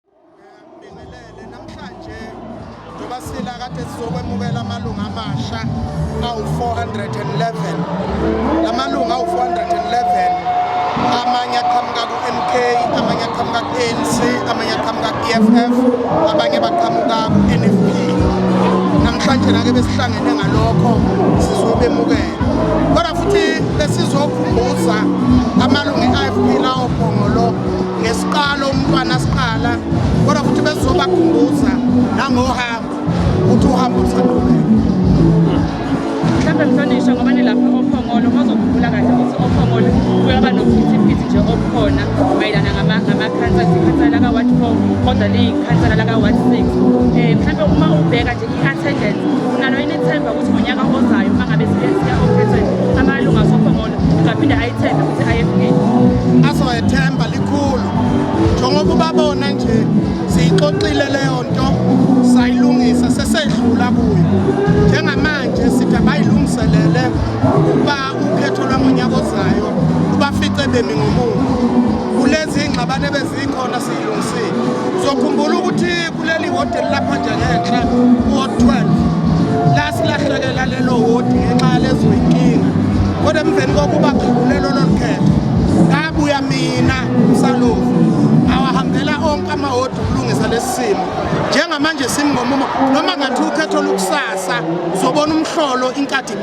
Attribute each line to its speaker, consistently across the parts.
Speaker 1: Ngibingelele namhlanje njengoba sila kade sizokwemukela amalunga amasha awu-411 la malunga awu-411 amanye aqhamuka ku-mk amanye aqhamuka ku-anc amanye aqhamuka ku-eff abanye baqhamuka ku-nfp namhlanje nake besihlangene ngalokho sizobemukela kodwa futhi besizokhumbuza amalunga e-ifp lawo phongolo Siqala umntwana siqala kodwa futhi bezobakhumbuza nangohambo ukuthi uhambo lusalubeka
Speaker 2: mhlawumbe mhlonishwa ngoba nilapha ophongolo bazokhumbula kahle ukuthi ophongolo kuyaba nokuphithiphithi nje okukhona mayelana ngamakhansela ikhansela laka-ward four kodwa liyikhansela laka-ward six um eh, mhlawumbe uma ubheka nje i-attendance unalo yini ithemba ukuthi ngonyaka ozayo uma ngabe siya ophethweni amalunga sophongolo ngaphinde ayithembe ukuthi IFP azoyethemba
Speaker 1: likhulu njengoba ubabona nje siyixoxile leyo nto sayilungisa sesedlula kuyo njengamanje sithi abayilungiselele ukuba ukhetho lwangonyaka ozayo ubafice bemi ngomumo kulezi ingxabane bezikhona siyilungisile uzokhumbula ukuthi kuleli wodi elilapha nje ngenhla kuwod 12 la silahlekela lelo wodi ngenxa yalezo yinkinga kodwa emveni kokuba khululelo lolu khetho ngabuya mina usalovu awahambela onke amawodi ukulungisa lesi simo njengamanje simngomumo noma ngathi ukhetho lukusasa zobona umhlolo inkathi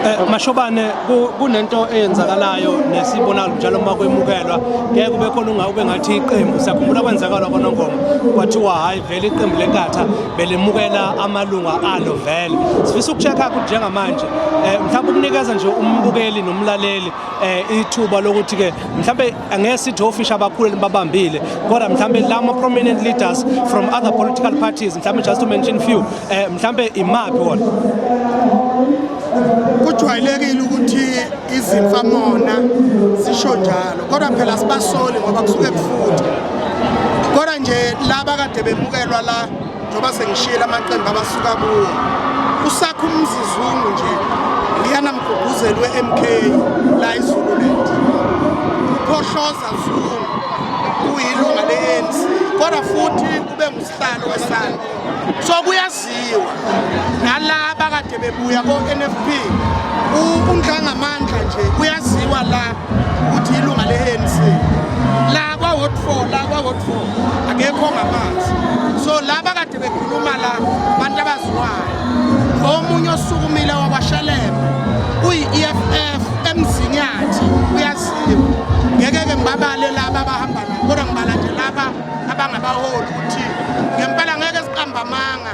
Speaker 1: Eh, mashobane
Speaker 3: kunento eyenzakalayo nesibonalo njalo uma kwemukelwa ngeke kube khona ungawube ngathi iqembu siyakhumbula kwenzakala konongoma kwathiwa hhayi vele iqembu lenkatha belimukela amalunga alo vele sifisa ukucheck-a ukuthi njengamanje um mhlawumbe ukunikeza nje umbukeli nomlaleli um ithuba lokuthi-ke mhlawumbe angeke sithi ofisha abakhulu libabambile kodwa mhlambe lama prominent leaders from other political parties mhlambe just to mention few eh mhlambe imaphi wona
Speaker 1: kujwayelekile ukuthi izimfa mona sisho njalo kodwa phela sibasoli ngoba kusuke kufuthi kodwa nje laba kade bemukelwa la njengoba sengishiyela amaqembu abasuka kuwo usakha umzizungu nje liyana mguguzelwe MK la iZululand uphohloza zungu uyilunga le-ANC kodwa futhi kube ngusihlalo wesana so kuyaziwa nala bakade bebuya ko-NFP unhlangamandla nje kuyaziwa la ukuthi ilunga le-anc la kwa-ward four la kwa-ward four akekho ongamazi so laba kade bekhuluma la abantu abaziwayo omunye osukumile wakwashalembe uyi-e f f emzinyathi uyaziwa ngeke-ke ngibabale laba abahamba nabo kodwa ngibala nje laba abangabaholi ukuthi ngempela ngeke siqamba amanga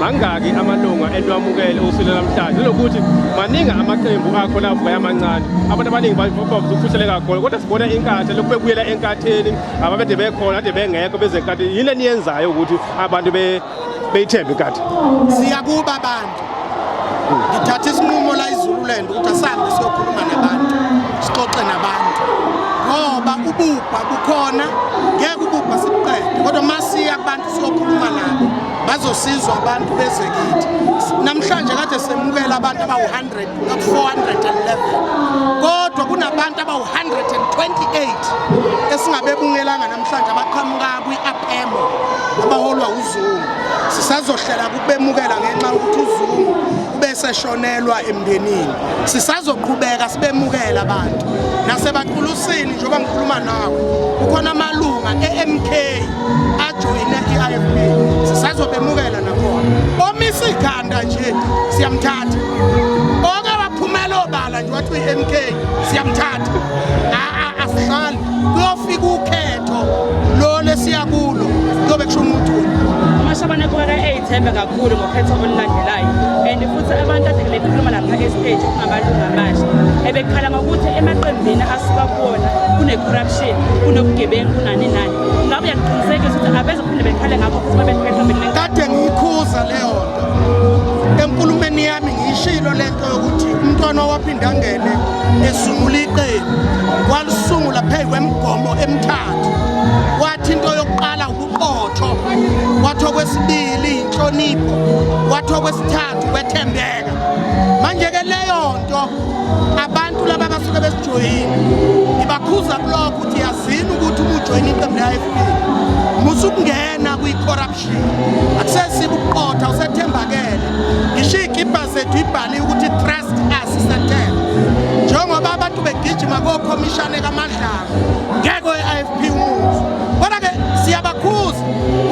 Speaker 4: mangaki amalunga enwamukele usile namhlanje lokuthi maningi amaqembu akho lavuka yamancane abantu abaningi bavuse ukufuseleka khona kodwa sibona inkatha lokhu bebuyela enkatheni ababede bekhona ade bengekho bezenkathi yini eniyenzayo ukuthi abantu beyithembe inkatha siyakuba
Speaker 1: abantu ngithatha isinqumo la izululand ukuthi asambe siyokhuluma nabantu sixoxe nabantu ngoba ububha bukhona ngeke ububha sibuqede kodwa masiya abantu siyokhuluma nabo bazosizwa abantu bezekithi namhlanje kade semukela abantu abawu-100 411 kodwa kunabantu abawu-128 esingabebungelanga namhlanje abaqhamuka kwi-apemo abaholwa uzungu sisazohlela kubemukela ngenxa yokuthi uzungu ubeseshonelwa emndenini sisazoqhubeka sibemukela abantu nasebaqulusini njengoba ngikhuluma nawe kukhona amalunga e-mk ajoyine i-ifp sisazobemukela nakhona omisa ikhanda nje siyamthatha oke waphumela obala nje wathi uyi-m k siyamthatha asihlali kuyofika ukhetho lo lesiya kulo kuyobe kusho umuntu amashabane
Speaker 2: kubeka eyithembe kakhulu ngokhetho olulandelayo and futhi abantu ade bekhuluma lapha estage kungamalungu amasha ebekhala ngokuthi emaqembini asuka kuwona kune-corruption kunobugebengu kunani nani Ngabe uyakuqinisekisa ukuthi abezophinde bekhale ngakho futhi babephetha bele. Kade ngiyikhuza
Speaker 1: leyo nto. Enkulumeni yami ngiyishilo lento yokuthi umntwana owaphinda ngene esungula iqembu walisungula phezu kwemigomo emithathu. Wathi into yokuqala ubuqotho, wathi okwesibili inhlonipho, wathi okwesithathu wethembeka. into abantu laba basuke besijoyini ngibakhuza kulokho ukuthi yazini ukuthi uma ujoyina iqembu le-ifp musa ukungena kwi-corruption akusesiba ukuqotha usethembakele ngisho iy'kibha zethu ibhaliwe ukuthi trust us isethemba njengoba abantu begijima kokhomishane kamadlanga ngeke we-ifp umuzi kodwa-ke siyabakhuza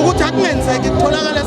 Speaker 1: ukuthi akungenzeki kutholakala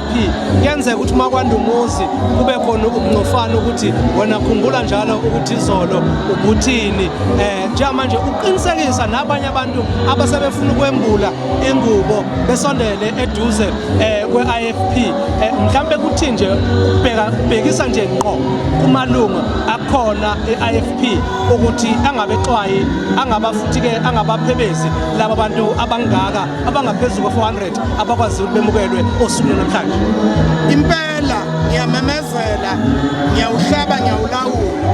Speaker 3: kuyenzeka ukuthi uma kwanda umuzi kube khona ukungcofana ukuthi wena khumbula njalo ukuthi izolo ubuthini um eh, njengamanje ukuqinisekisa nabanye abantu abasebefuna ukwembula ingubo besondele eduze um kwe-i f p um eh, mhlawumbe kuthi nje ubhekisa nje ngqo kumalunga akhona e-i f p ukuthi angabexwayi angaba futhi-ke angabaphebezi laba bantu abangaka abangaphezu kwe-400 abakwazi ukuthi bemukelwe osuku namhlanje impela
Speaker 1: ngiyamemezela ngiyawuhlaba ngiyawulawula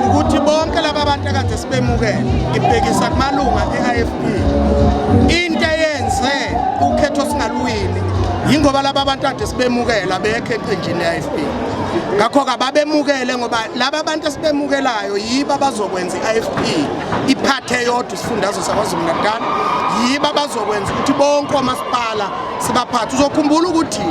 Speaker 1: ukuthi bonke laba bantu akade sibemukele ngibhekisa kumalunga e-ifp into eyenze ukhetho singaluwini yingoba laba bantu ade sibemukela bekho eqenjini le-ifp ngakho-ke ababemukele ngoba laba bantu esibemukelayo yibo abazokwenza i-ifp iphathe yodwa isifundazwe sakwazulu-natal yiba bazokwenza ukuthi bonke omasipala sibaphathe uzokhumbula ukuthi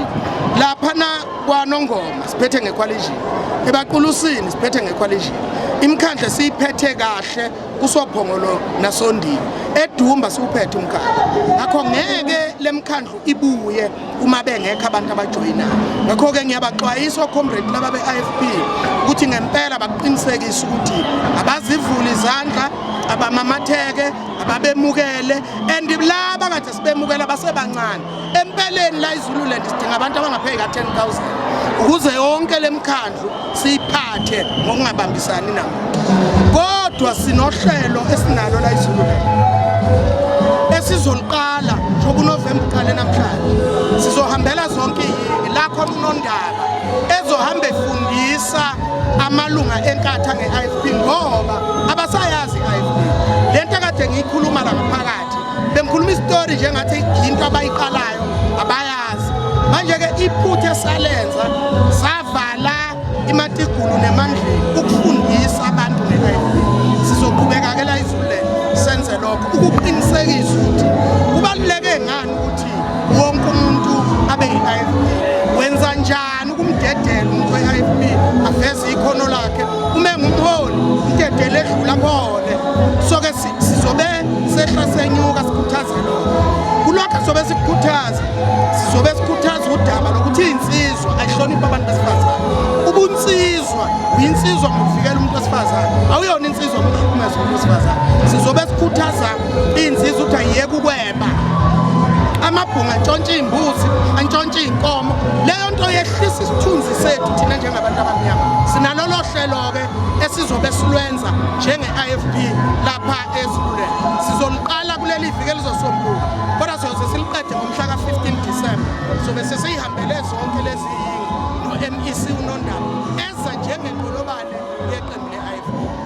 Speaker 1: laphana kwanongoma siphethe ngekhwalijini ebaqulusini siphethe ngekhwalijini imikhandle siyiphethe kahle kusophongolo nasondini edumba siwuphethe umkhandle ngakho ngeke lemkhandlu ibuye uma bengekho abantu abajoyinayo ngakho-ke ngiyabaxwayisa ocomrade laba be-ifp ukuthi ngempela bakuqinisekise ukuthi abazivuli izandla abamamatheke ababemukele and laba kade sibemukela basebancane empeleni la izululand sidinga abantu abangapheki ka-10 000 ukuze yonke le mkhandlu siyiphathe ngokungabambisani nabo kodwa sinohlelo esinalo la izulu esizoliqala njengoba unovemba uqale namhlanje sizohambela zonke iyingi la khona unondaba ezohamba efundisa amalunga enkatha nge-ifp ngoba abasayazi i-ifp le nto akade ngiyikhuluma la ngaphakathi bengikhuluma isitori njengathi yinto abayiqalayo Stars manje ke iphutha esalenza savala imatigulu nemandleni ukufundisa abantu ngeHIV sizoqhubeka ke la izule senze lokho ukuqinisekisa ukuthi kubaluleke ngani ukuthi wonke umuntu abe yiHIV wenza njani ukumdedela umuntu weHIV aveze ikhono lakhe uma engumholi umdedele edlula khona soke sizobe sehla senyuka sikhuthaze lokho kulokho sizobe sikukhuthaza sizobe sikhuthaza udaba lokuthi iy'nsizwa ayihloniphi abantu besifazane ubunsizwa uyinsizwa ngokuvikela umuntu wesifazane awuyona insizwa ngokuhlukumeza umuntu wesifazane sizobe sikhuthaza iy'nsizwa ukuthi ayiyeke ukweba amabhunga antshontshe iy'mbuzi antshontshe iy'nkomo leyo nto yehlisa isithunzi sethu thina njengabantu abamnyama sinalolo hlelo-ke esizobe silwenza njenge-ifp lapha ezululele sizoluqala kuleli viki elizosombuluka kodwa siyoze siliqede ngomhla ka-15 disemba sobe sesiyihambele zonke lezi yingo no-mec unondaba eza njengenqolobane yeqembu le-ifp